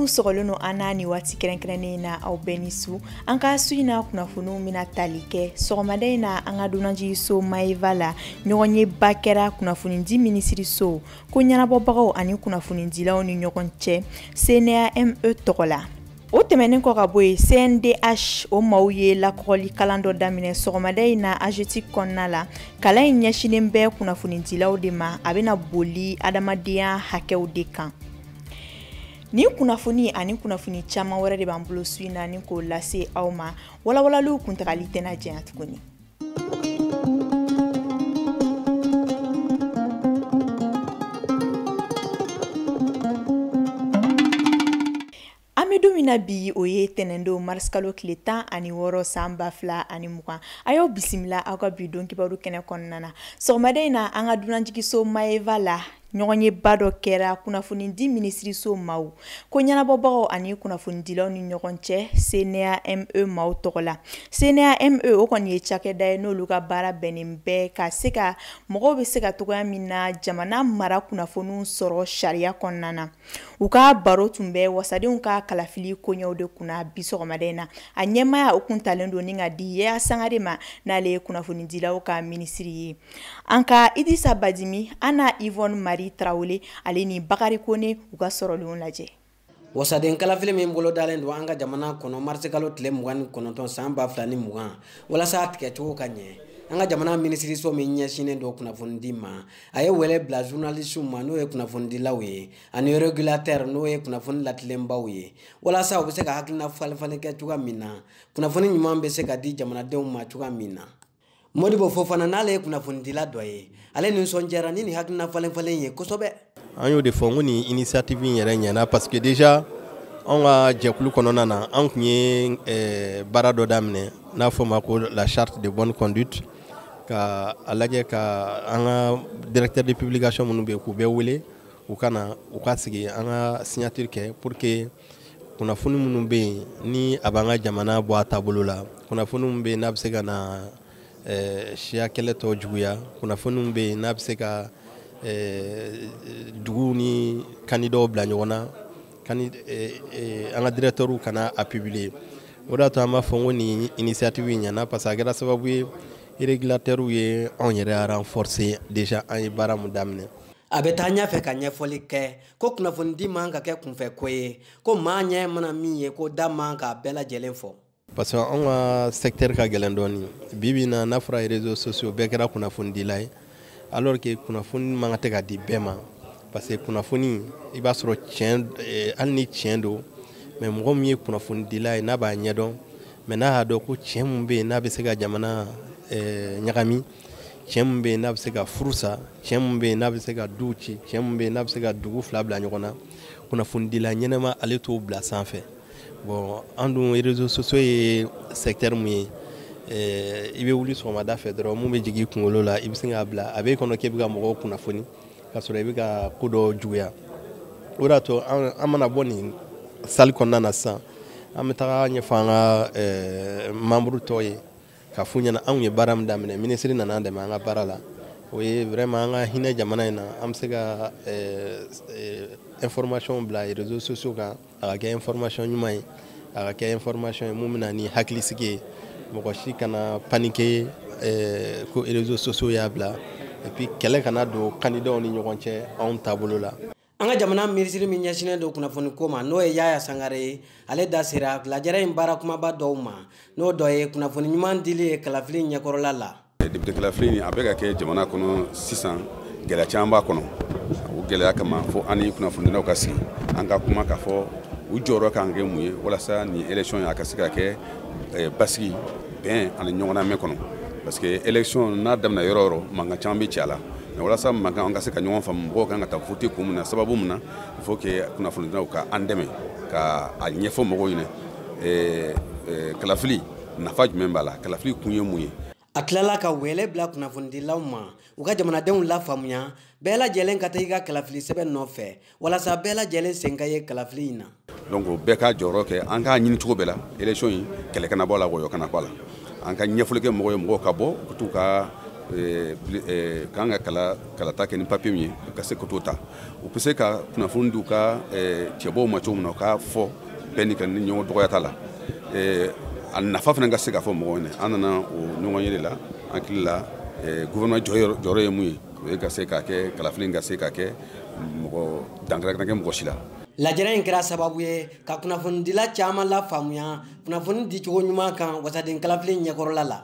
sɔgɔlen don an na nin waati kɛrɛnkɛrɛnnen in na aw bɛɛ ni su an ka su in na kunnafoniw bɛna tali kɛ sɔgɔmada in na an ka dunanjiginso maeva la ɲɔgɔnyeba kɛra kunnafonidi minisiriso koɲɛnabɔbagaw ani kunnafonidilaw ni ɲɔgɔn cɛ cname tɔgɔ la o tɛmɛnen kɔ ka bɔ yen cndh o maw ye lakɔgɔli kalan dɔ daminɛ sɔgɔmada in na agetic kɔnɔna la kalan in ɲɛsinnen bɛ kunnafonidilaw de ma a bɛna boli adamadenya hakɛw de kan nin kunnafoni ani kunnafoni caman wɛrɛ de b'an bolo su in na ni k'o lase aw ma walawalaliw kuntagali tɛna janya tuguni An bɛ don min na bi o ye tɛnɛndon marisikalo tile tan ani wɔɔrɔ san ba fila ani mugan a y'aw bisimila aw ka bi don kibaru kɛnɛ kɔnɔna na sɔgɔmada in na an ka dunanjiginso maeva la ɲɔgɔnyeba dɔ kɛra kunnafonidi minisiriso maw koɲɛnabɔbagaw ani kunnafonidilaw ni ɲɔgɔn cɛ cname maw tɔgɔ la cname o kɔni ye cakɛda ye n'olu ka baara bɛnnen bɛ ka se ka mɔgɔw bɛ se ka cogoya min na jamana mara kunnafoniw sɔrɔ sariya kɔnɔna na u ka baro tun bɛ wasadenw ka kalafili koɲɛw de kunna bi sɔgɔmada in na a ɲɛmaya o kun talen don ni ka di yaya sangare ma n'ale ye kunnafonidilaw ka minisiri ye An ka idrissa badimi anna yvonne mari tarawele ale ni bakari kɔnɛ u ka sɔrɔlenw lajɛ wasaden kalafili min bolo dalen don an ka jamana kɔnɔ marisikalo tile mugan ni kɔnɔntɔn san ba fila ni mugan walasa a tigɛcogo ka ɲɛ an ka jamana minisiriso min ɲɛsinnen don kunnafonidi ma a ye wele bila zurunalisiw ma n'o ye kunnafonidilaw ye ani régulateur n'o ye kunnafoni latilenbaw ye walasa u bɛ se ka hakilina falenfalen kɛ cogoya min na kunnafoni ɲuman bɛ se ka di jamanadenw ma cogoya min na modibo fofana n'ale ye kunnafonidila dɔ ye ale nisɔndiyara ni nin hakilina falenfalen ye kosɛbɛ an y'o de fɔ n ko nin initiative in yɛrɛ ɲɛna parce que déjà anw ka jɛkulu kɔnɔna na an kun ye eh, baara dɔ daminɛ n'a fɔ ma ko la charte de bonne conduite ka a lajɛ ka an ka directeur de publication minnu bɛ yen k'u bɛɛ wele u ka na u ka sigi an ka signature kɛ pour que kunnafoni minnu bɛ yen ni a b'an ka jamana bɔ a taabolo la kunnafoni min bɛ yen n'a bɛ se ka na eh, siya kɛlɛ tɔ juguya kunnafoni min bɛ yen n'a bɛ se ka eh, duguw ni kandidaw bila ɲɔgɔn na kani eh, an ka directeurs kana a publier o de y'a to an b'a fɔ n ko nin initiative in ɲɛna parce que a kɛra sababu ye régulateurs ye anw yɛrɛ renforcer déjà an ye baara min daminɛ a bɛ taa ɲɛfɛ ka ɲɛfɔli kɛ ko kunnafonidi man ka kɛ kunfɛ ko ye ko maa ɲɛ mana min ye ko da man k'a bɛɛ lajɛlen fɔ parce que anw ka secteur ka gɛlɛn dɔɔni bi bi na n'a fɔra réseaux sociaux bɛɛ kɛra kunnafonidila ye alors que kunnafoni man ka tɛ ka di bɛɛ ma parce que kunnafoni i b'a sɔrɔ tiɲɛ eh, hali ni tiɲɛ don mais mɔgɔ min ye kunnafonidila ye n'a b'a ɲɛdɔn mais n'a y'a dɔn ko tiɲɛ min bɛ yen n'a bɛ se ka jamana eh, ɲagami tiɲɛ min bɛ yen n'a bɛ se ka furu sa tiɲɛ min bɛ yen n'a bɛ se ka du ci tiɲɛ min bɛ yen n'a bɛ se ka dugu fila bila ɲɔgɔn na kunnafonidila ɲɛnama ale t'o bila sanfɛ bon an dun réseaux sociaux ye secteur mun ye eh, i bɛ wuli sɔgɔmada fɛ dɔrɔn mun bɛ jigin kunkolo la i bɛ se k'a bila a b'e kɔnɔ k'e bɛ ka mɔgɔw kunnafoni k'a sɔrɔ i bɛ ka ko dɔ juguya o de y'a to an mana bɔ nin salle kɔnɔna na sisan an bɛ taga ɲɛfɔ an ka eh, membre tɔw ye ka f'u ɲɛna anw ye baara min daminɛ minisiri nana an dɛmɛ an ka baara la o ye vraiment an ka hinɛ jamana in na an bɛ se ka eh, eh, information bila réseaux sociaux kan a ka kɛ information ɲuman ye a ka kɛ information ye mun bɛ na ni hakilisigi ye mɔgɔ si kana paniquer eh, ko réseaux sociaux y'a bila et puis kɛlɛ kana don kandidaw ni ɲɔgɔn cɛ anw taabolo la an ka jamana minisiri min ɲɛsinnen don kunnafoni ko ma n'o ye yaya sangare ye ale da sera lajɛrɛ in baara kumaba dɔw ma n'o dɔ ye kunnafoni ɲuman dili ye kalafili ɲɛkɔrɔla la depite kalafili nin a bɛ ka kɛ jamana kɔnɔ sisan gɛlɛya caman b'a kɔnɔ o gɛlɛya kama fo an ni kunnafonidilaw ka sigi an ka kuma k'a fɔ u jɔyɔrɔ kan ka kɛ mun ye walasa nin élection in a ka se ka kɛ eh, basigi bɛn ani ɲɔgɔnnamɛn kɔnɔ parce que élection n'a damina yɔrɔ o yɔrɔ mankan caman bɛ ci a la walasa mankan an ka se ka ɲɔgɔn faamu mɔgɔw kan ka taa voter kun min na sababu min na il faut que kunnafonidilaw ka an dɛmɛ ka a ɲɛfɔ mɔgɔw ɲɛna eh, eh, kalafili nafa jumɛn b'a la kalafili kun ye mun ye a tilala ka wele bila kunnafonidilaw ma u ka jamanadenw lafaamuya bɛɛ lajɛlen ka taa i ka kalafili sɛbɛn nɔfɛ walasa bɛɛ lajɛlen sen ka ye kalafili in na donc bɛɛ ka jɔyɔrɔ kɛ an k'a ɲini cogo bɛɛ la élection in kɛlɛ kana bɔ a la wɔyɔ kana bɔ a la an ka ɲɛfɔli kɛ mɔgɔw ye mɔgɔw ka bɔ ka t'u ka eh, eh, k'an ka kala kalata kɛ ni papiye min ye u ka se ka t'o ta u bɛ se ka kunnafoni di u ka eh, cɛbɔw ma cogo min na u k'a fɔ bɛɛ ni ka ni ɲɔgɔn dɔgɔya t'a la a nafa fana ka se k'a fɔ mɔgɔw ɲɛna an nana o ɲɔgɔnye de la an hakili la gouvernement jɔyɔrɔ ye mun ye o ye ka se k'a kɛ kalafili ka se ka kɛ mɔgɔ dankari kana kɛ mɔgɔ si la lajɛrɛ in kɛra sababu ye ka kunnafonidila caman lafaamuya kunnafoni dicogo ɲuman kan wasaden kalafili ɲɛkɔrɔla la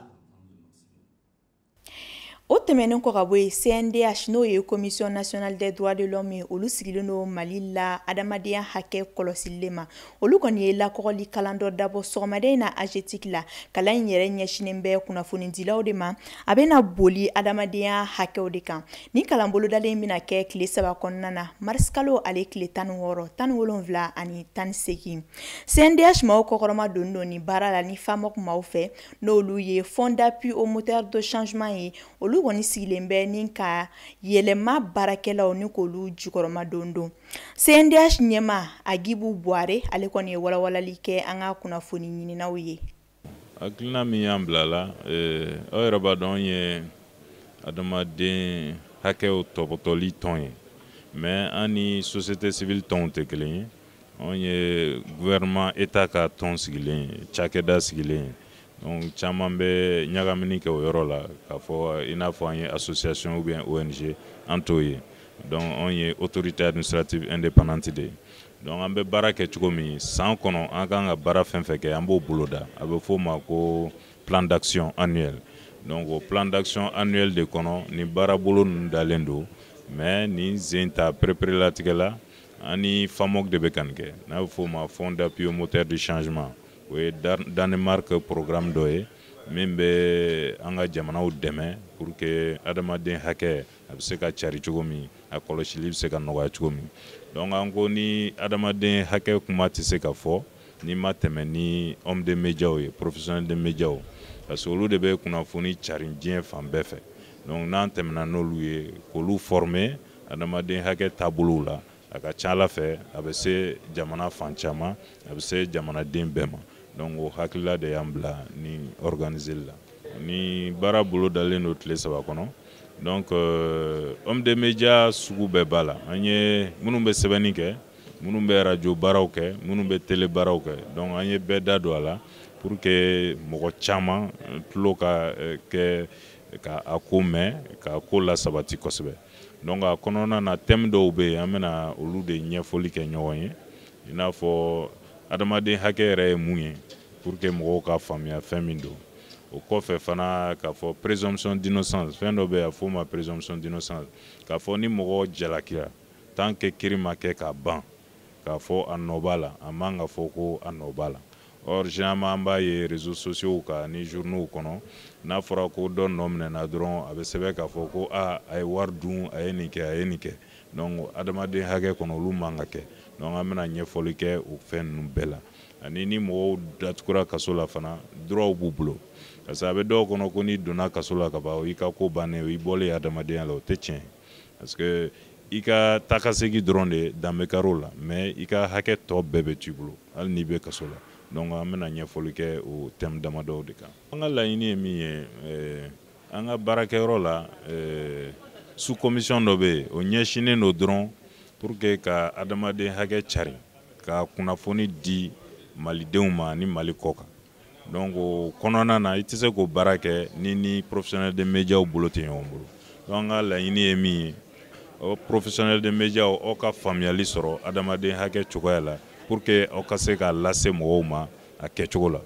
o tɛmɛnen kɔ ka bɔ yen cndh n'o ye commission nationale des droits de l'homme ye olu sigilen don mali la adamadenya hakɛ kɔlɔsili ma olu kɔni ye lakɔgɔli kalan dɔ dabɔ sɔgɔmada in na agetic la kalan in yɛrɛ ɲɛsinen bɛ kunnafonidilaw de ma a bɛna boli adamadenya hakɛw de kan ni kalan bolodalen bɛna kɛ tile saba kɔnɔna na mars kalo ale tile tan ni wɔɔrɔ tan ni wolonwula ani tan ni segin cndh maaw kɔkɔrɔma don don ni baara la ni famoc maaw fɛ n'olu ye fonds d'appui au moteur de changement ye olu kɔni sigilen bɛ ni ka yɛlɛma baarakɛlaw ni k'olu jukɔrɔma don don CNDH ɲɛmaa Agibu Buware ale kɔni ye walawalali kɛ an ka kunnafoni ɲininaw ye. Hakilina min y'an bila a la, aw yɛrɛ b'a dɔn anw ye adamaden hakɛw tɔpɔtɔli tɔn ye, mais an ni société civile tɔnw tɛ kelen ye. Anw ye gouvernement, Etat ka tɔn sigilen ye, cakɛda sigilen ye donc caman bɛ ɲagamini kɛ o yɔrɔ la k'a fɔ i n'a fɔ an ye association ou bien ONG an t'o ye donc anw ye autorité administrative indépendante de ye donc an bɛ baara kɛ cogo min san kɔnɔ an kan ka baara fɛn fɛn kɛ an b'o boloda a bɛ f'o ma ko plan d'action annuel donc o plan d'action annuel de kɔnɔ ni baarabolo ninnu dalen don mais nin sen ta pereperelatigɛ la an ni FAMOC de bɛ ka nin kɛ n'a bɛ f'o ma fonds d'appui au moteur du changement o ye danemark programme dɔ ye min bɛ an ka jamanaw dɛmɛ pour que adamaden hakɛ a bɛ se ka cari cogo min a kɔlɔsili bɛ se ka nɔgɔya cogo min donc an ko ni adamaden hakɛ kuma tɛ se ka fɔ n'i ma tɛmɛ ni homme de médiaw ye professionnel de médiaw parce que olu de bɛ kunnafoni cari diɲɛ fan bɛɛ fɛ donc n'an tɛmɛna n'olu ye k'olu former adamaden hakɛ taabolow la a ka ca a la fɛ a bɛ se jamana fan caman a bɛ se jamanaden bɛɛ ma donc o hakilila de y'an bila ni organiseli la ni baara bolo dalen don tile saba kɔnɔ donc euh, homme de media sugu bɛɛ b'a la an ye minnu bɛ sɛbɛnni kɛ minnu bɛ radio baaraw kɛ minnu bɛ tele baaraw kɛ donc an ye bɛɛ da don a la pour que mɔgɔ caman tulo ka euh, kɛ ka a ko mɛn k'a ko lasabati kosɛbɛ donc a kɔnɔna na thème dɔw bɛ yen an bɛna olu de ɲɛfɔli kɛ ɲɔgɔn ye i n'a fɔ adamaden hakɛ yɛrɛ ye mun ye pour que mɔgɔw k'a faamuya fɛn min don o kɔfɛ fana k'a fɔ présomption d'innocence fɛn dɔ bɛ yen a f'o ma présomption d'innocence k'a fɔ ni mɔgɔ jalakira tant que kiri ma kɛ k'a ban k'a fɔ a nɔ b'a la a man ka fɔ ko a nɔ b'a la or généralement an b'a ye réseaux sociaux kan ni journaux kɔnɔ n'a fɔra ko dɔ nɔ minɛna dɔrɔn a bɛ sɛbɛn k'a fɔ ko a a ye wari dun a ye nin kɛ a ye nin kɛ donc adamaden hakɛ kɔnɔ olu man ka kɛ donc an bɛna ɲɛfɔli kɛ o fɛn ninnu bɛɛ la ani ni mɔgɔw datugura kaso la fana droitw b'u bolo parce que a bɛ dɔw kɔnɔ ko n'i donna kaso la ka ban o y'i ka ko bannen o y'i bɔlen ye adamadenya la o tɛ tiɲɛ ye parce que i ka taakasegi dɔrɔn de dan bɛ kar'o la mais i ka hakɛ tɔ bɛɛ bɛ t'i bolo hali n'i bɛ kaso la donc an bɛna ɲɛfɔli kɛ o thème damadɔw de kan an ka laɲini ye min ye eh, an ka baarakɛyɔrɔ la eh, sous commission dɔ bɛ yen o ɲɛsinnen don dɔrɔn pour que ka adamaden hakɛ cari ka kunnafoni di malidenw ma ni mali kɔ kan donc o kɔnɔna na i tɛ se k'o baara kɛ ni ni professionnel de médiaw bolo tɛ ɲɔgɔn bolo donc an ka laɲini ye min ye o professionnel de médiaw aw ka faamuyali sɔrɔ adamaden hakɛ cogoya la pour que aw ka se k'a lase mɔgɔw ma a kɛcogo la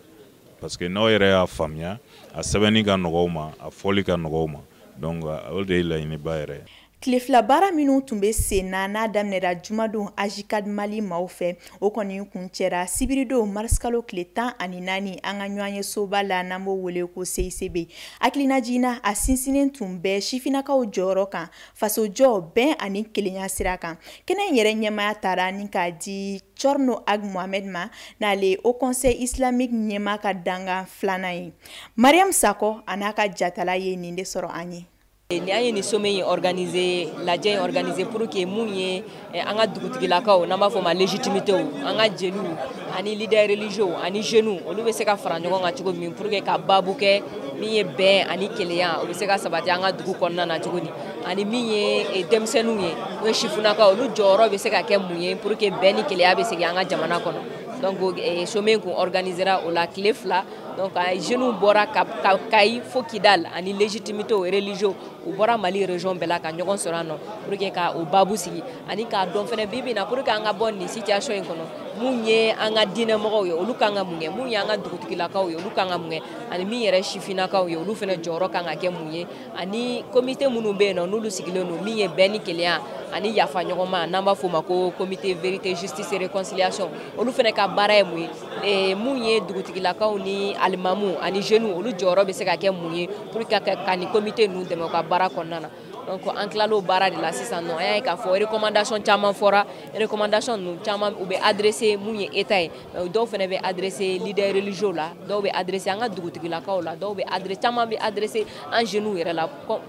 parce que n'aw yɛrɛ y'a faamuya a sɛbɛnni ka nɔgɔ aw ma a fɔli ka nɔgɔ aw ma donc o de ye laɲiniba yɛrɛ ye Tile fila baara minnu tun bɛ sen na n'a daminɛra jumadon AJCAD mali maaw fɛ o kɔni kuncɛra sibiridon marisikalo tile tan ani naani an ka ɲɔgɔnyesoba la n'an b'o wele ko CICB hakilinajigin na a sinsinnen tun bɛ sifinnakaw jɔyɔrɔ kan fasojɔ bɛn ani kelenya sira kan kɛnɛ in yɛrɛ ɲɛmaaya taara ni k'a di Chorno Ag Mohamed ma n'ale haut conseil islamique ɲɛmaa ka dankan filanan ye Mariam Sako an'a ka jatala ye nin de sɔrɔ an ye Nin an ye nin sommet in organiser lajɛ in organiser pour que mun ye eh, an ka dugutigilakaw n'an b'a fɔ ma légitimité an ka jeliw ani leader religieux ani jeunes olu bɛ se ka fara ɲɔgɔn kan cogo min pour que ka baabu kɛ min ye bɛn ani kelenya o bɛ se ka sabati an ka dugu kɔnɔna na cogo di ani min ye eh, denmisɛnninw ye n'o ye sifinnakaw olu jɔyɔrɔ bɛ se ka kɛ mun ye pour que bɛn ni kelenya bɛ segin an ka jamana kɔnɔ donc eh, sommet in kun organisera o la tile fila donc a ye jeunes bɔra ka ka kayi fo kidal ani légitimité religieux u bɔra mali région bɛɛ la ka ɲɔgɔn sɔrɔ yan nɔ pour que ka o baabu sigi ani k'a dɔn fɛnɛ bi bi na pour que an ka bɔ nin situation in kɔnɔ mun ye an ka diinɛmɔgɔw ye olu kan ka mun kɛ mun ye an ka dugutigilakaw ye olu kan ka mun kɛ ani min yɛrɛ sifinnakaw ye olu fɛnɛ jɔyɔrɔ kan ka kɛ mun ye ani comité minnu bɛ yen nɔ n'olu sigilen don min ye bɛn ni kelenya ani yafa ɲɔgɔnma n'an b'a fɔ o ma ko comité vérité justice et réconciliation olu fɛnɛ ka baara ye mun ye Eh, mun ye dugutigilakaw ni alimamu ani jeunes olu jɔyɔrɔ bɛ se ka kɛ mun ye pour que ka nin comité ninnu dɛmɛ u ka baara kɔnɔna na donc an tilal'o baara de la sisan nɔ an y'a ye k'a fɔ recommandation caman fɔra recommandation ninnu caman u bɛ adresser mun ye état ye dɔw fɛnɛ bɛ adresser leader religieux la dɔw bɛ adresser an ka dugutigilakaw la dɔw bɛ adresser caman bɛ adresser an jeunes yɛrɛ la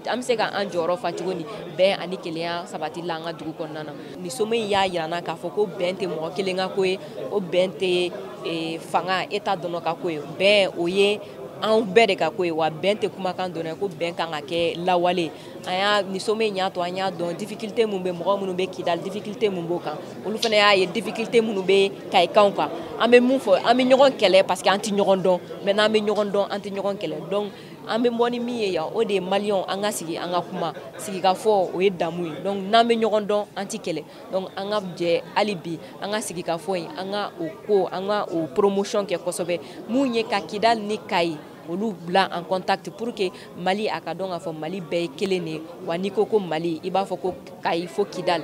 an bɛ se ka an jɔyɔrɔ fa cogo di bɛn ani kelenya sabatili la an ka dugu kɔnɔna na nin sommet in y'a yir'an na k'a fɔ ko bɛn tɛ mɔgɔ kelen ka ko ye o bɛn tɛ e, fanga état dɔrɔn ka ko ye bɛn o ye anw bɛɛ de ka ko ye wa bɛn tɛ kumakan dɔrɔn ye ko bɛn kan ka kɛ lawale an y'a nin sommet in y'a to an y'a dɔn difficulté minnu bɛ mɔgɔ minnu bɛ kidali difficulté minnu b'o kan olu fana y'a ye difficulté minnu bɛ kayikanw kan an bɛ mun fɔ an bɛ ɲɔgɔn kɛlɛ parce que an tɛ ɲɔgɔn dɔn mais n'an bɛ ɲɔgɔn dɔn an tɛ ɲɔgɔn kɛlɛ donc an bɛ bɔ ni min ye yan o de ye maliyɛnw an ka sigi an ka kuma sigikafɔ o ye damu ye donc n'an bɛ ɲɔgɔn dɔn an tɛ kɛlɛ donc an ka jɛ hali bi an ka sigikafɔ in an ka o ko an ka o promotion kɛ kosɛbɛ min ye ka kidal ni kayi olu bila en contact pour que mali a ka dɔn k'a fɔ mali bɛɛ ye kelen de ye wa n'i ko ko mali i b'a fɔ ko kayi fo kidal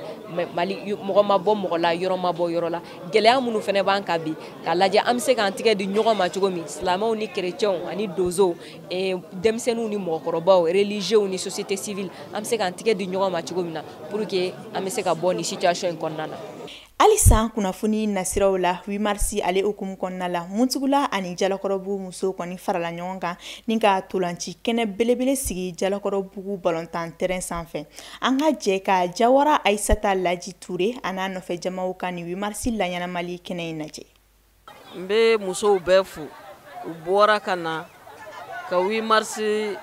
mali mɔgɔ ma bɔ mɔgɔ la yɔrɔ ma bɔ yɔrɔ la gɛlɛya minnu fana b'an kan bi k'a lajɛ an bɛ se k'an tɛgɛ di ɲɔgɔn ma cogo min silamɛw ni kerecɛnw ani donsow Eh, denmisɛnninw ni mɔgɔkɔrɔbaw religieux ni société civile an bɛ se k'an tɛgɛ di ɲɔgɔn ma cogo min na pour que an bɛ se ka bɔ nin situation in kɔnɔna na halisa kunnafoni nasiraw la 8 marisi ale hukumu kɔnɔna la muntugula ani jalakɔrɔbugu musow kɔni farala ɲɔgɔn kan ni ka tolanci kɛnɛ belebele sigi jalakɔrɔbugu balontan terɛn sanfɛ an ka jɛ ka jawara ayisata laji ture an'a nɔfɛ jamaw ka nin 8 marisi laɲɛnamali kɛnɛ in lajɛ n bɛ musow bɛɛ fo u bɔra ka na ka 8 marisi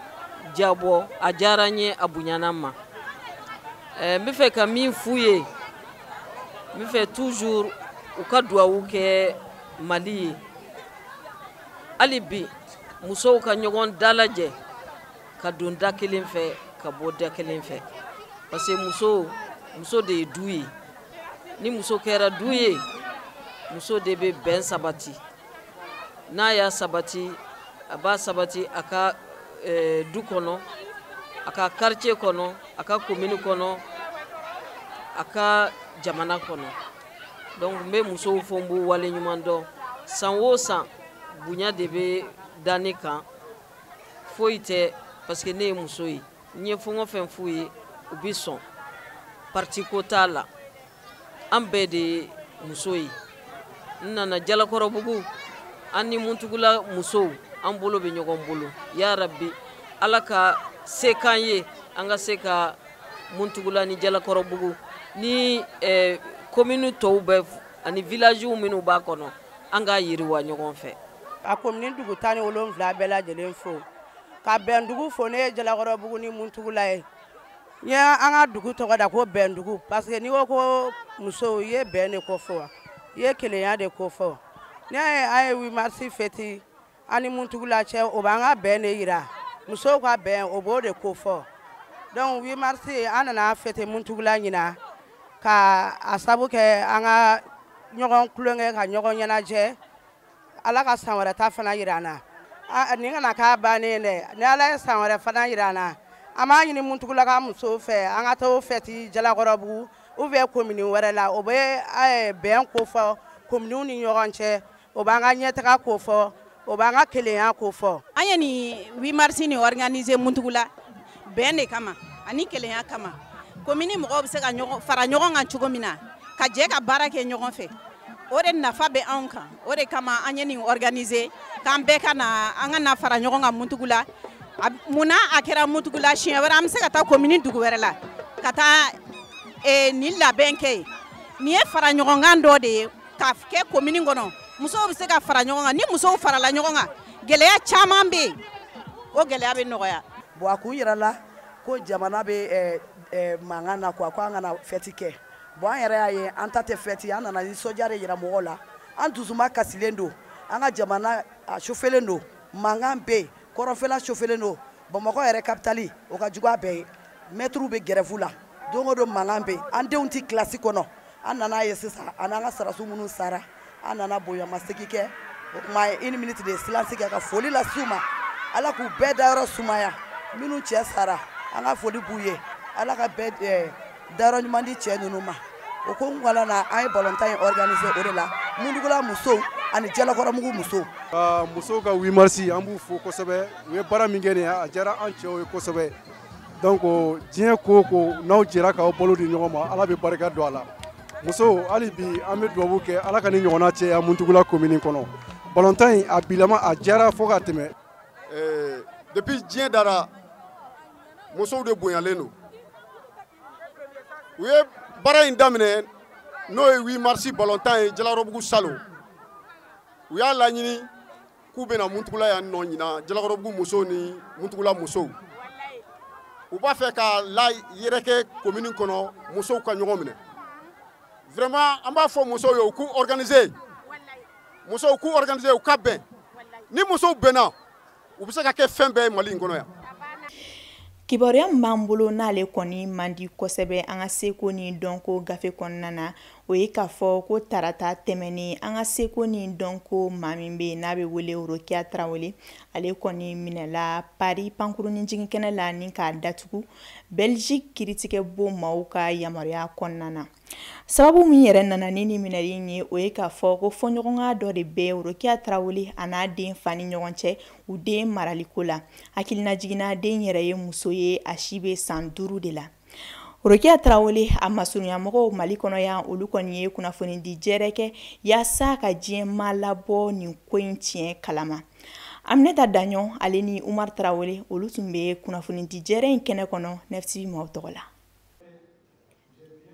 diyabɔ a diyara n ye a bonyana n ma eh, n bɛ fɛ ka min f'u ye n bɛ fɛ toujours u ka duwawu kɛ mali ye hali bi musow ka ɲɔgɔn dalajɛ ka don da kelen fɛ ka bɔ da kelen fɛ parce que muso muso de ye du ye ni muso kɛra du ye muso de bɛ bɛn sabati n'a y'a sabati a b'a sabati a ka eh, du kɔnɔ a ka quartier kɔnɔ a ka commune kɔnɔ a ka jamana kɔnɔ donc n bɛ musow fo n b'u waleɲuman dɔn san o san bonya de bɛ da ne kan foyi tɛ parce que ne ye muso ye n ye fɛn o fɛn f'u ye u bɛ sɔn parti ko t'a la an bɛɛ de ye muso ye n nana jalakɔrɔbugu an ni muntugula musow an bolo bɛ ɲɔgɔn bolo ya rabi ala ka se k'an ye an ka se ka muntugula ni jalakɔrɔbugu ni commune eh, tɔw bɛɛ ani village minnu b'a kɔnɔ an k'a yiriwa ɲɔgɔn fɛ ka komini dugu tan ni wolonwula bɛɛ lajɛlen fo ka bɛndugu fo n'o ye jalakɔrɔbugu ni muntugula ye n ye an ka dugu tɔgɔ da ko bɛndugu parce que n'i ko ko musow i ye bɛn de ko fɔ wa i ye kelenya de ko fɔ ni an ye wimarisi fɛti an ni muntugula cɛ o b'an ka bɛn de yira musow ka bɛn o b'o de ko fɔ donc wimarisi an nana fete muntugula ɲinan ka a sabu kɛ an ka ɲɔgɔn tulonkɛ ka ɲɔgɔn ɲɛnajɛ ala ka san wɛrɛ ta fana jira an na nin kana k'a bannen ye dɛ ni ala ye san wɛrɛ fana jira an na an b'a ɲini muntugulaka musow fɛ an ka t'o fɛti jalakɔrɔbugu ou bien komini wɛrɛ la o bɛ bɛn ko fɔ kominiw ni ɲɔgɔn cɛ o b'an ka ɲɛtaga ko fɔ o b'an ka kelenya ko fɔ an ye nin 8 mars nin organiser Muntugula bɛn de kama ani kelenya kama komini mɔgɔw bɛ se ka fara ɲɔgɔn kan cogo min na ka jɛ ka baara kɛ ɲɔgɔn fɛ o de nafa bɛ anw kan o de kama an ye nin organiser k'an bɛɛ ka na an ka na fara ɲɔgɔn kan muntugula mun na a kɛra muntugula siɲɛ wɛrɛ an bɛ se ka taa komini dugu wɛrɛ la ka taa eh, nin labɛn kɛ yen nin ye faraɲɔgɔnkan dɔ de ye ka kɛ komini kɔnɔ musow bɛ se ka fara ɲɔgɔn kan ni musow farala ɲɔgɔn kan gɛlɛya caman bɛ yen o gɛlɛya bɛ nɔgɔya bon a kun yirala ko jamana bɛ eh, eh, mankan na quoi ko an kana fɛti kɛ bon an yɛrɛ y'a ye an ta tɛ fɛti an nana nisɔndiya de yira mɔgɔw la an dusuma kasilen don an ka jamana a sofelen don mankan bɛ yen kɔrɔnfɛla sofelen don bamakɔ yɛrɛ kapitali o ka jugu a bɛɛ ye mɛtiriw bɛ gɛrɛfu la don o don mankan bɛ an denw tɛ kilasi kɔnɔ an nana ye sisan an n'an ka sɔrɔdasi minnu sara an nana bonyamasegin kɛ o tuma ye une minute de silence kɛ ka foli las'u ma ala k'u bɛɛ dayɔrɔ sumaya minnu cɛ sara an ka foli b'u ye ala ka bɛɛ dayɔrɔ ɲuman di cɛ ninnu ma o ko n kɔnɔna na an ye balontan in organiser o de la muntugula musow ani jalakɔrɔbugu musow ka musow ka 8 marisi an b'u fo kosɛbɛ u ye baara min kɛ nin ye a diyara an cɛw ye kosɛbɛ donc diɲɛ ko o ko n'aw jɛra k'aw bolo di ɲɔgɔn ma ala bɛ barika don a la musow hali bi an bɛ dubabu kɛ ala ka nin ɲɔgɔnna cɛya muntugula komini kɔnɔ balontan in a bilama a diyara fo ka tɛmɛ eh, depuis diɲɛ dara musow de bonyalen don u ye baara in daminɛ n'o ye 8 marisi balontan ye jalakɔrɔbugu salon u y'a laɲini k'u bɛ na muntugula yan nɔ ɲinan jalakɔrɔbugu musow ni muntugula musow u b'a fɛ k'a layɛrɛkɛ komini kɔnɔ musow ka ɲɔgɔn minɛ vraiment an b'a fɔ musow ye u k'u organiser musow k'u organiser u ka bɛn ni musow bɛnna u bɛ se ka kɛ fɛn bɛɛ ye mali in kɔnɔ yan kibaruya min b'an bolo n'ale kɔni man di kosɛbɛ an ka seko ni dɔnko gafe kɔnɔna na o ye k'a fɔ ko tarata tɛmɛnen an ka seko ni dɔnko maa min bɛ yen n'a bɛ wele rokiya tarawele ale kɔni minɛla pari pankuruni jigin kɛnɛ la ni k'a datugu belgique kiritigɛbo maaw ka yamaruya kɔnɔna na sababu min yɛrɛ nana ni nin minɛli in ye o ye k'a fɔ ko fɔɲɔgɔnkɔ dɔ de bɛ rokiya tarawele a n'a den fa ni ɲɔgɔn cɛ u den maraliko la hakilinajigin na den yɛrɛ ye muso ye a si bɛ san duuru de la rokiya tarawele a masurunyamɔgɔw mali kɔnɔ yan olu kɔni ye kunnafoni di jɛrɛ kɛ yaasa ka diɲɛ maa labɔ nin ko in tiɲɛ kalama aminata daɲɔ ale ni umar tarawele olu tun bɛ kunnafoni di jɛrɛ in kɛnɛ kɔnɔ neuf tv maaw tɔgɔ la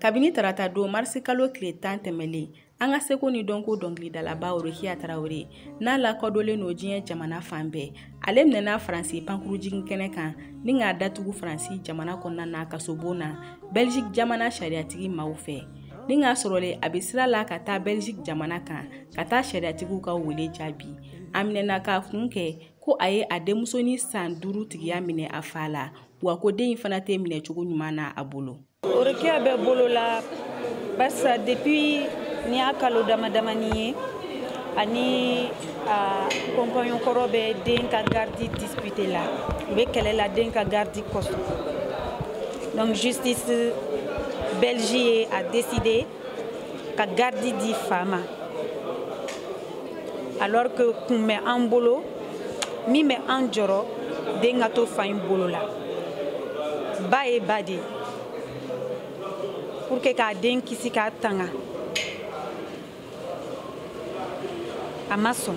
kabini tarata don marisi kalo tile tan tɛmɛlen an ka seko ni dɔnko dɔnkilidalaba orokiya tarawele n'a lakodɔnlen don diɲɛ jamana fan bɛɛ ale minɛna faransi pankurujigin kɛnɛ kan ni k'a datugu faransi jamana kɔnɔna na kasobon na bɛlgiki jamana sariyatigi maaw fɛ ni k'a sɔrɔlen a bɛ sira la ka taa bɛlgiki jamana kan ka taa sariyatigiw ka wele jaabi a minɛna k'a kun kɛ ko a ye a denmusonin san duuru tigiya minɛ a fa la wa ko den in fana tɛ minɛcogo ɲuman na a bolo orokiya bɛ bolo la barisa depuis nin y'a kalo dama damani ye a n'a compagnon kɔrɔ bɛ den ka garde dispute la u bɛ kɛlɛ la den ka garde kosɔn donc justice belge y'a décidé ka garde di fa ma alors que kun bɛ an bolo min bɛ an jɔrɔ den ka to fa in bolo la ba ye ba de ye pour que k'a den kisi k'a tanga a ma sɔn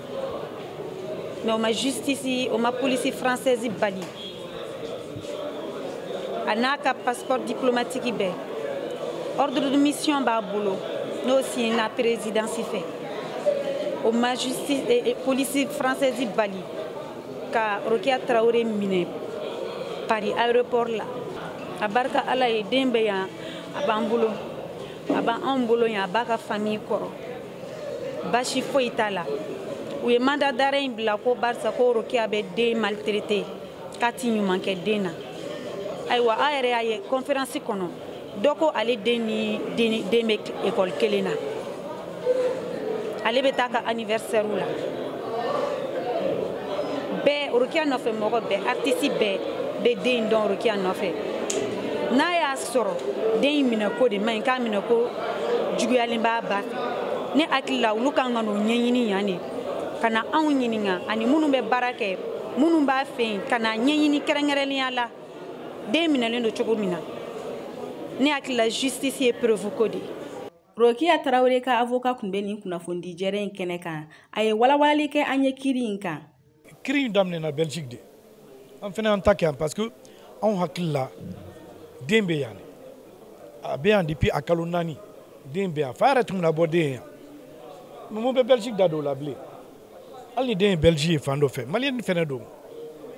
mais o ma justice o ma police française bali a n'a ka passeport diplomatique bɛɛ ordre de mission b'a bolo n'o signé na présidence fɛ o ma justice eh, eh, police française bali ka rokiya tarawele minɛ paris aéroport la a barika ala ye den bɛ yan a b'an bolo a b'an bolo yan a b'a ka famille kɔrɔ basi foyi t'a la u ye mandat d'arrêt in bila ko barisa ko rokiya bɛ den maltraité k'a ti ɲuman kɛ den na ayiwa a yɛrɛ y'a ye conférence kɔnɔ dɔ ko ale den ni den bɛ école kelen na ale bɛ taa a ka anniversaire la bɛɛ rokiya nɔfɛ mɔgɔ bɛɛ artiste bɛɛ bɛ den dɔn rokiya nɔfɛ sɔrɔ den in minɛ ko de man ɲi k'a minɛ ko juguyalen b'a ba ne hakili la olu kan ka n'o ɲɛɲini yan de ka na anw ɲininka ani minnu bɛ baara kɛ minnu b'a fɛ yen ka na ɲɛɲini kɛrɛnkɛrɛnnenya la den minɛlen don cogo min na ne hakili la justice ye preuve ko de ye rokiya tarawele ka avoka tun bɛ nin kunnafonidijɛrɛ in kɛnɛ kan a ye walawalali kɛ an ye kiri in kan kiri in daminɛna belgique de an fana an ta kɛ yan parce que anw hakili la den bɛ yan a bɛ yan depuis a kalo naani den bɛ yan fa yɛrɛ tun bɛna bɔ den yan mun bɛ belgique da don o la bilen hali ni den ye belgique ye fan dɔ fɛ maliyɛn fana don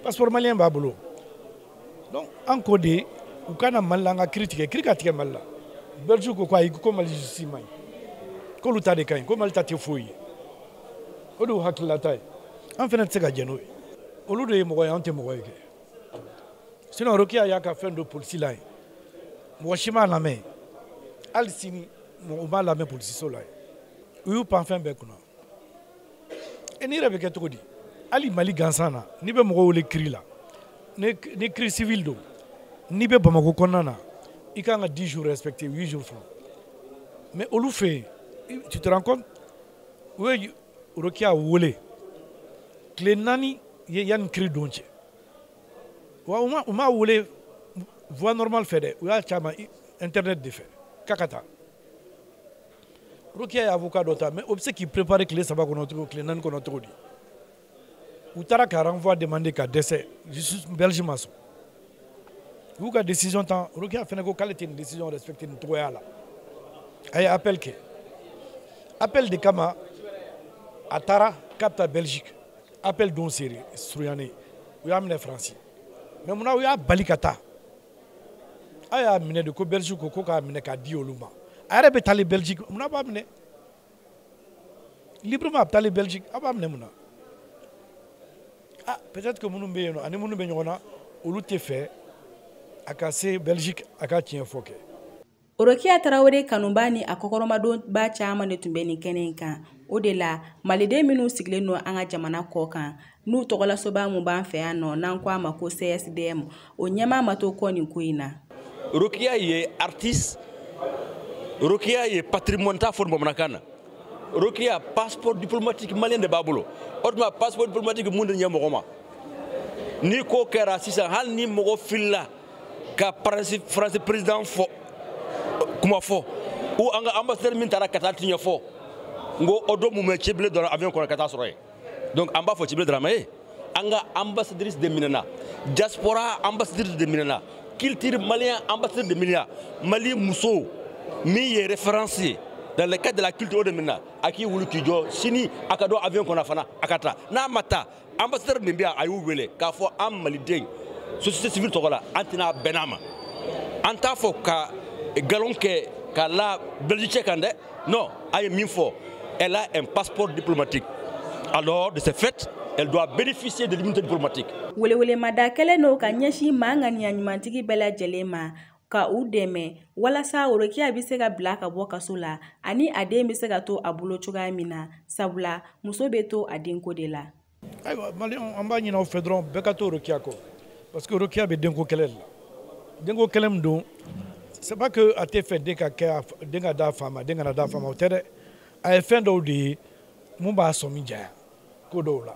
passeport maliyɛn b'a bolo donc an ko de u ka na mali la an ka kiri tigɛ kiri ka tigɛ mali la belgique ko ko ayi ko mali justice man ɲi k'olu ta de ka ɲi ko mali ta tɛ foyi ye o de y'u hakililata ye an fana tɛ se ka jɛ n'o ye olu de ye mɔgɔ ye an tɛ mɔgɔ ye kɛ sinon rokiya y'a ka fɛn don polisi la yen mɔgɔ si m'a lamɛn hali sini mɔgɔ m'a lamɛn polisiso la yen u y'u pan fɛn bɛɛ kunna e n'i yɛrɛ bɛ kɛ cogo di hali mali gansan na n'i bɛ mɔgɔ wele kiri la ni kiri civil don n'i bɛ bamako kɔnɔna na i kan ka 10 jours respecter 8 jours francs mais olu fɛ yen tu te rends compte u ye rokiya wele tile naani ye yanni kiri don cɛ wa u ma u m'a wele voie normale fɛ dɛ u y'a c'a ma internet de fɛ k'a ka taa rokiya ye avocat dɔ ta mais o bɛ se k'i préparer tile saba kɔnɔ cogo tile naani kɔnɔ cogo di u taara ka renvoi demander ka dɛsɛ justice belge ma sɔn u y'u ka décision ta rokia fana ko k'ale tɛ nin décision respecter nin cogoya la a ye appel kɛ appel de kama a taara k'a bɛ taa belgique appel don seli surunyalen u y'a minɛ faransi mais munna u y'a bali ka taa a y'a minɛ de ko belgique ko ko k'a minɛ k'a di olu ma a yɛrɛ bɛ taali belgique munna b'a minɛ librement a bɛ taali belgique a b'a minɛ mun na ah peut-être que minnu bɛ yen nɔ ani minnu bɛ ɲɔgɔn na olu tɛ fɛ a ka se belgique a ka tiɲɛ fɔ kɛ orokiya tarawele kanuba ni a kɔkɔrɔmadonba caman de tun bɛ nin kɛnɛ in kan o de la maliden minnu sigilen don an ka jamana kɔ kan n'u tɔgɔlasoba mun b'an fɛ yan nɔ n'an ko a ma ko csdm o ɲɛmaa ma to kɔ nin ko in na rokiya ye artiste rokiya ye patrimoine t'a fɔ bamanankan na rokiya passeport diplomatique malien de b'a bolo o tuma passeport diplomatique mun de ɲɛ mɔgɔ ma ni ko kɛra sisan hali ni mɔgɔ filila ka faransi faransi président fɔ kuma fɔ ou an ka ambassadeur min taara ka taa tiɲɛ fɔ n ko o don mun bɛ cɛbilen donna avion kɔnɔ ka taa sɔrɔ yen donc an b'a fɔ tiébilé dramé ye an ka ambassadrice de minɛna diaspora ambassadrice de minɛna culture malien ambassadrice de minɛna mali muso min ye référence ye dans le cadre de la culture o de minɛna a k'i wuli k'i jɔ sini a ka don avion kɔnɔ fana a ka taa n'a ma taa ambassadeur min bɛ yan a y'u wele k'a fɔ an maliden société civile tɔgɔ la an tɛna bɛn a ma an t'a fɔ ka nkalon kɛ k'a la belgique kan dɛ Non, a ye min fɔ, elle a un passeport diplomatique. Alors, de ce fait, elle doit bénéficier de l'immunité diplomatique. Welewelemada kɛlen don ka ɲɛsin maa ŋaniya ɲumantigi bɛɛ lajɛlen ma ka u dɛmɛ walasa worokiya bɛ se ka bila ka bɔ kaso la ani a den bɛ se ka to a bolo cogoya min na sabula muso bɛ to a denko de la ayiwa maliens an b'a ɲin'aw fɛ dɔrɔn bɛɛ ka to rokiya kɔ parce que rokiya bɛ denko kɛlɛ de la denko kɛlɛ min don c'est pas que a tɛ fɛ den ka kɛ den ka d'a fa ma den kana d'a fa ma o tɛ dɛ a ye fɛn dɔw de ye min b'a sɔmi janya ko dɔw la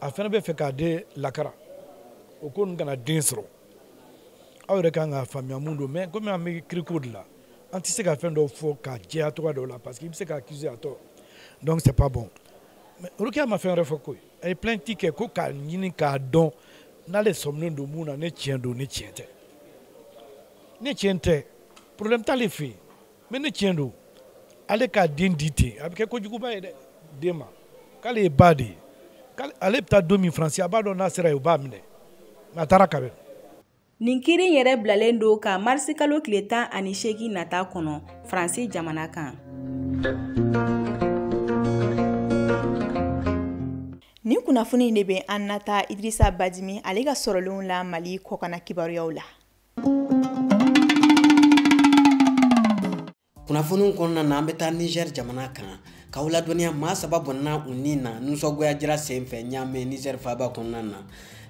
a fana bɛ fɛ k'a den lakana o ko ninnu kana den sɔrɔ aw yɛrɛ kan k'a faamuya mun don mais komi an bɛ kiriko de la an tɛ se ka fɛn dɔw fɔ k'a jɛya cogoya dɔw la parce que i bɛ se k'a accuser à tort donc c'est pas bon mais rokiya ma fɛn wɛrɛ fɔ koyi a ye plainte kɛ ko k'a ɲini k'a dɔn n'ale sɔminen don min na ni tiɲɛ don ni tiɲɛ tɛ ni tiɲɛ tɛ problème t'ale fɛ yen mais ni tiɲɛ don ale k'a den di ten a bɛ kɛ kojuguba ye dɛ den ma k'ale ye ba de ye ale bɛ taa don min faransi a b'a dɔn n'a sera yen u b'a minɛ mais a taara quand même Nin kiri in yɛrɛ bilalen don ka marisikalo tile tan ani seegin nata kɔnɔ faransi jamana kan nin kunnafoni in de bɛ an nata idrisa badimi ale ka sɔrɔlenw la mali kɔkana kibaruyaw la kunnafoniw kɔnɔna na an bɛ taa niger jamana kan k'aw ladɔnniya maa saba bɔnna u ni na nisɔngoya jira sen fɛ ɲaamɛ niger faaba kɔnɔna na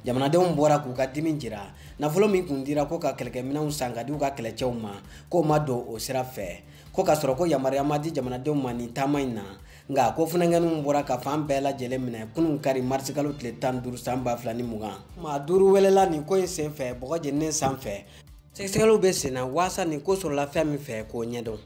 jamanadenw bɔra k'u ka dimi jira nafolo min kun dira ko ka kɛlɛkɛminɛnw san ka di u ka kɛlɛcɛw ma k'o ma don o sira fɛ ko ka sɔrɔ ko yamaruya ma di jamanadenw ma nin taama in na nka ko funankɛninw bɔra ka fan bɛɛ lajɛlen minɛ kunun kari marisikalo tile tan ni duuru san ba fila ni mugan maa duuru welela nin ko in senfɛ bɔgɔ jeninen sanfɛ sɛgɛsɛgɛliw bɛ senna waasa nin ko sɔrɔla fɛn min fɛ k'o ɲɛdɔn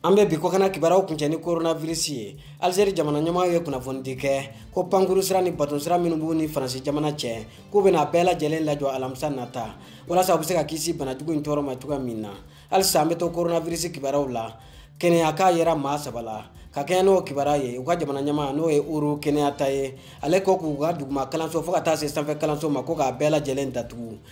an bɛ bi kɔkana kibaruyaw kuncɛ ni koronavirisi ye alizeri jamana ɲɛmaaw ye kunnafonidi kɛ ko pankuru sira ni baton sira minnu b'u ni faransi jamana cɛ k'u bɛna bɛɛ lajɛlen lajɔ alamisa nata walasa u bɛ se ka kisi bana jugu in tɔɔrɔ ma cogoya min na halisa an bɛ to koronavirisi kibaruyaw la kenya k'a yera maa saba la ka kɛɲɛ n'o kibaruya ye u ka jamana ɲɛmaa n'o ye uhuru kenyatta ye ale ko k'u ka duguma kalanso fo ka taa se sanfɛ kalanso ma ko k'a bɛɛ lajɛlen datugu